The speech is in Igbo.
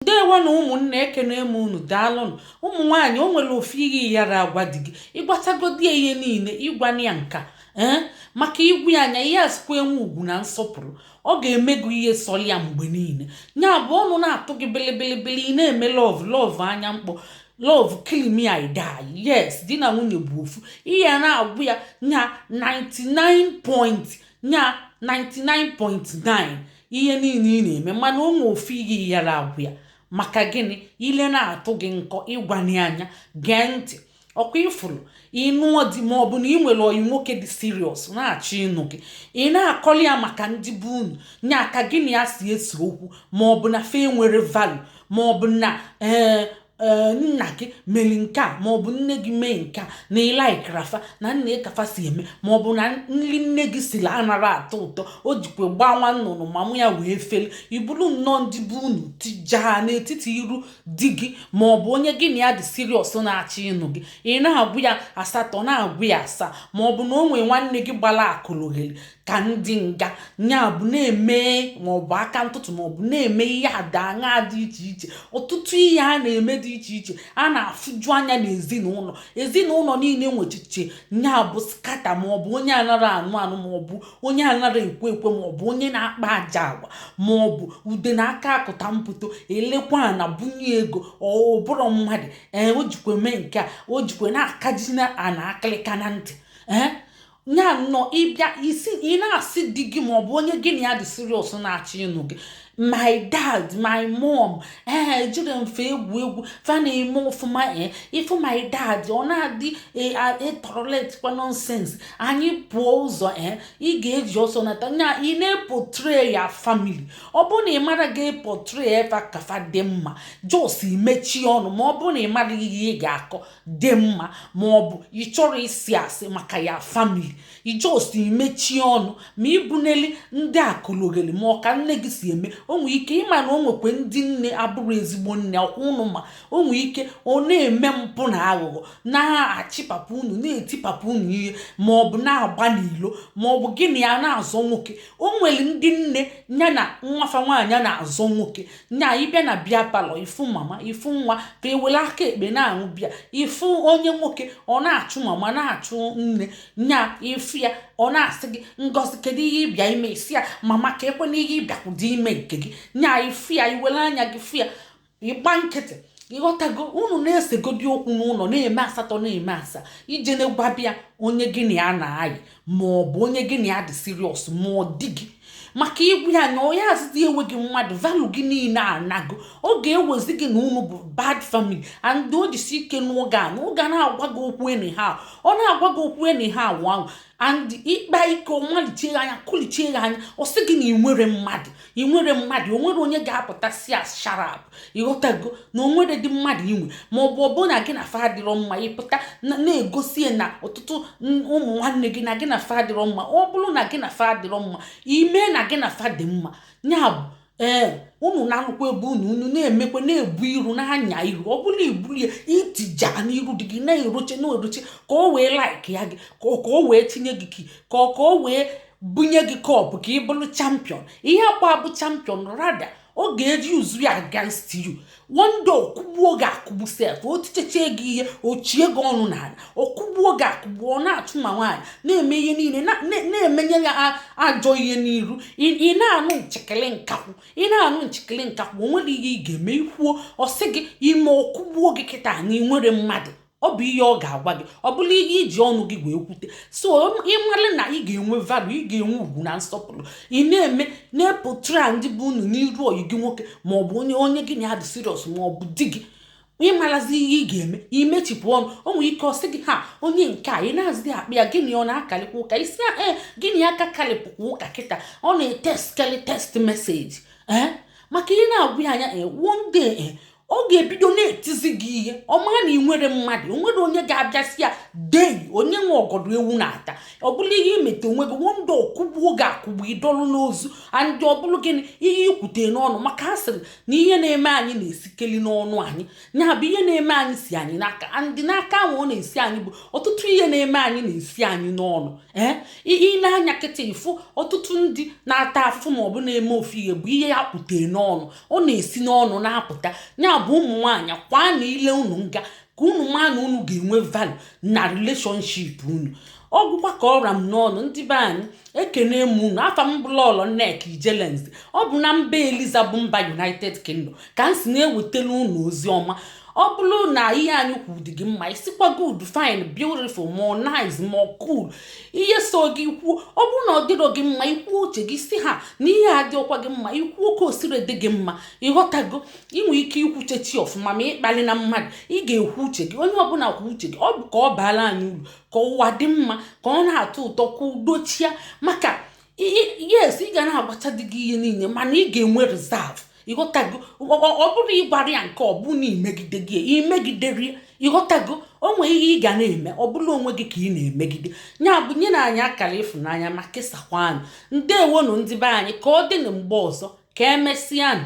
ndewo nụ ụmụnne ekene m unu daalụnụ ụmụ nwaanyị o nwere ofu ihe ị yara agwa di gị ị gwatagodi ya ihe niile ị gwana ya nka ee maka ị gwa ya nya ị ya azikwa enwe ugwu na nsọpụrụ ọ ga-eme gị ihe sọrọ ya mgbe niile ya bụ ọnụ na-atụ gị bilibili ị na-eme love love anya mkpọ love kill me i die yes di na nwunye bụ ofu ị ya na-agwa ya nya 99 point nya 99.9 ihe niile ị na-eme mana o nwe ofu ihe ị yara agwa ya maka gịnị ile na-atụ gị nkọ ị gwana ya nya gee ntị ọkwa i furu ị nụọ di ma ọ bụ na ị nwere oyi nwoke dị serious na-achọ ịnụ gị ị na-akọli ya maka ndị be unu nya ka gị na ya si ese okwu ma ọ bụ na fa enwere value ma ọ bụ na ee eh, ee nna gị mere nke a ma ọ bụ nne gị mee nke a na ị laikara fa na nee ka fa si eme ma ọ bụ na nri nne gị siri anara atọ ụtọ o jikwa gbaa nwa nnụnụ mama ya wee feli i buru nnọọ ndị be unu tijaa n'etiti iru di gị ma ọ bụ onye gị na ya dị serious na-achọ ịnụ gị ị na-agwa ya asatọ na-agwa ya asaa ma ọ bụ na o nwee nwanne gị gbara akalogeli ka ndị nga nya bụ na-eme maọbụ aka ntụtụ maọbụ na-eme ihe ada aṅa dị iche iche ọtụtụ ihe a na-eme dị iche iche a na-afụju anya n'ezinụlọ ezinụlọ niile nwechiche nya bụ scatter maọbụ onye anara anụ anụ maọbụ onye anara ekwe ekwe maọbụ onye na-akpa ajọ agwa maọbụ ude na aka akụta mpụto elekwa a na-ebunye ego ọ bụrụ mmadụ ee o jikwe mee nke a o jikwe na-akaji na ana akịlịka na ntị ee nya nnọọ ị bịa ị sị ị na-asị di gị ma ọ bụ onye gị na ya dị serious na-achọ ịnụ gị my dad my mom ee ejire m fa egwu egwu fa na-eme ọfụma ee eh, ị fụ my dad ọ na-adị etoleratekwa eh, nonsense anyị pụọ ụzọ ee ị ga-eji ọsọ nata nya ị na-eportray your family ọ bụrụ na ị mara ga-eportray fa ka fa dị mma just mechie ọnụ ma ọ bụrụ na ị mara ihe ị ga-akọ dị mma ma ọ bụ ị chọrọ ịsị asị maka your family just mechie ọnụ ma ịbụneli ndị akalogeli ma ọ ka nne gị si eme o nwee ike ị ma na o nwekwe ndị nne abụrụ ezigbo nne ọkwa unu ma o nwee ike ọ na-eme mpụ na aghụghọ na-achị papa unu na-eti papa unu ihe ma ọ bụ na-agba n'ilo ma ọ bụ gị na ya na-azọ nwoke o nwere ndị nne ya na nwa fa nwaanyị na-azọ nwoke nya ị bịa na beer parlour ị fụ mama ị fụ nwa ka e were aka ekpe na-aṅụ beer ị fụ onye nwoke ọ na-achụ mama na-achụ nne nya ị fụ ya ọ na-asị gị ngozi kedu ihe ị bịa ime ị sị ya mama kekwanụ ihe ị bịakwụdị ime nke gị nya ị fụ ya i were anya gị fụ ya ị gba nkịtị ị ghọtago unu na-esegodi okwu n'ụlọ na-eme asatọ na-eme asaa i jene gwaba ya onye gị na ya na-ayị ma ọ bụ onye gị na ya dị serious ma ọ di gị maka ị gwụ ya anya ọ ya azịzi ewe gị mmadụ value gị niile anago ọ ga-ewezi gị na unu bụ bad family and o jisi ike n'oge a ọ ga na-agwa gị okwu anyhow ọ na-agwa gị okwu anyhow ahụ and ị kpa ike ọ malichie gị anya kụlichie gị anya ọ sị gị na ị nwere mmadụ ị nwere mmadụ o nwere onye ga-apụta sị ya shut up ị ghọtago na o nwere dị mmadụ i nwe ma ọ bụ ọ bụ na gị na fa adịrọ mma ịpụta na-egosi na ọtụtụ ụmụ nwanne gị na gị na fa adịrọ mma ọ bụrụ na gị na fa adịrọ mma i me na gị na fa dị mma ya bụ ee eh, unu na-alụkwa ebe unu unu na-emekwa na-ebu iru na-anya iru ọ bụla i bulie itija n'iru di gị na-eroche na-eroche ka o wee like ya gị ka o wee tinye gị ka ọ ka o wee bunye gị cup ka ị bụrụ champion ị yakwa abụ champion rather ọ ga-eji use ya against you one day ọ kụgbuo gị akụgbu sef o tichechie gị ihe o chie gị ọnụ n'ala ọ kụgbuo gị akụgbu ọ na-achụ ma nwaanyị na-eme ihe niile na-emenye ya ajọ ihe n'iru ị na-anụ nchekele nkakwụ ị na-anụ nchekele nkakwụ o nwere ihe ị ga-eme i kwuo ọ sị gị i me ọ kụgbuo gị kịta na ị nwere mmadụ ọ bụ ihe ọ ga-agwa gị ọ bụrụ ihe i ji ọnụ gị wee kwute so ị mara na ị ga-enwe value ị ga-enwe ugwu na nsọpụrụ ị na-eme na-eportray ndị be unu n'iru ọyị gị nwoke ma ọ bụ onye onye gị na ya dị serious ma ọ bụ di gị ị marazi ihe ị ga-eme i mechipụ ọnụ o nwere ike ọ sị gị ha onye nke a ị na-azị akpa ya gịnị ọ na-akarịkwa ụka ị sị ee eh, gịnị aka karịpụkwa ụka kịta ọ na-etextkarị text message ee eh, maka ị na-agwụ ya anya ee eh, one day ọ ga-ebido na-etizi gị ihe ọ mara na ị nwere mmadụ o nwere onye ga-abịa sị ya dei onye nwe ọgọdọ ewu na-ata ọ bụrụ ihe i meta onwe gị and ọ kụgbuo gị akụgbu ị dọlụ n'ozu and ọ bụrụ gịnị ihe i kwute n'ọnụ maka a sịrị na ihe na-eme anyị na-esikeli n'ọnụ anyị ya bụ ihe na-eme anyị si anyị n'aka and n'aka ahụ ọ na-esi anyị bụ ọtụtụ ihe na-eme anyị na-esi anyị n'ọnụ ee i ne anya kịta ị fụ ọtụtụ ndị na-ata afụfụ ma ọ bụ na-eme ofu ihe bụ ihe ya kwute n'ọnụ ọ na-esi n'ọnụ na-apụta ya bụ ụmụ nwaanyị kwaa na ile unu nga ka unu maa na unu ga-enwe value na relationship unu ọ gwụkwa ka ọ ra m n'ọnụ ndị be anyị ekene m unu afa m bụ lọlọ nneka ijelenze ọ bụ na mba eliza bụ mba united kingdom ka m si na-ewetara unu ozi ọma ọ bụrụ na ihe anyị kwuru dị gị mma ị sịkwa good fine beautiful ma ọ nice ma ọ cool ihe sọ gị i kwuo ọ bụrụ na ọ dịrọ gị mma i kwuo uche gị sị ha na ihe adịọkwa gị mma i kwuo ka o siri dị gị mma ị ghọtago i nwe ike ikwu uche gị ọfụma ma ị kpalina mmadụ ị ga-ekwu uche gị onye ọ bụla kwuo uche gị ọ bụ ka ọ baala anyị uru ka ụwa dị mma ka ọ na-atọ ụtọ ka udo chịa maka yes ị ga na-agwacha di gị ihe niile mana ị ga-enwe reserve ịghọtago ọ bụrụ ị gwara ya nke ọ bụ na i megideghị ya i megidere ya ịghọtago o nwere ihe ị ga na-eme ọ bụrụ onwe gị ka ị na-emegide ya bụ nyenụ anyị akara ịfụnanya ma kesakwa anyị ndewonụ ndị be anyị ka ọ dị na mgbe ọzọ ka emesịanụ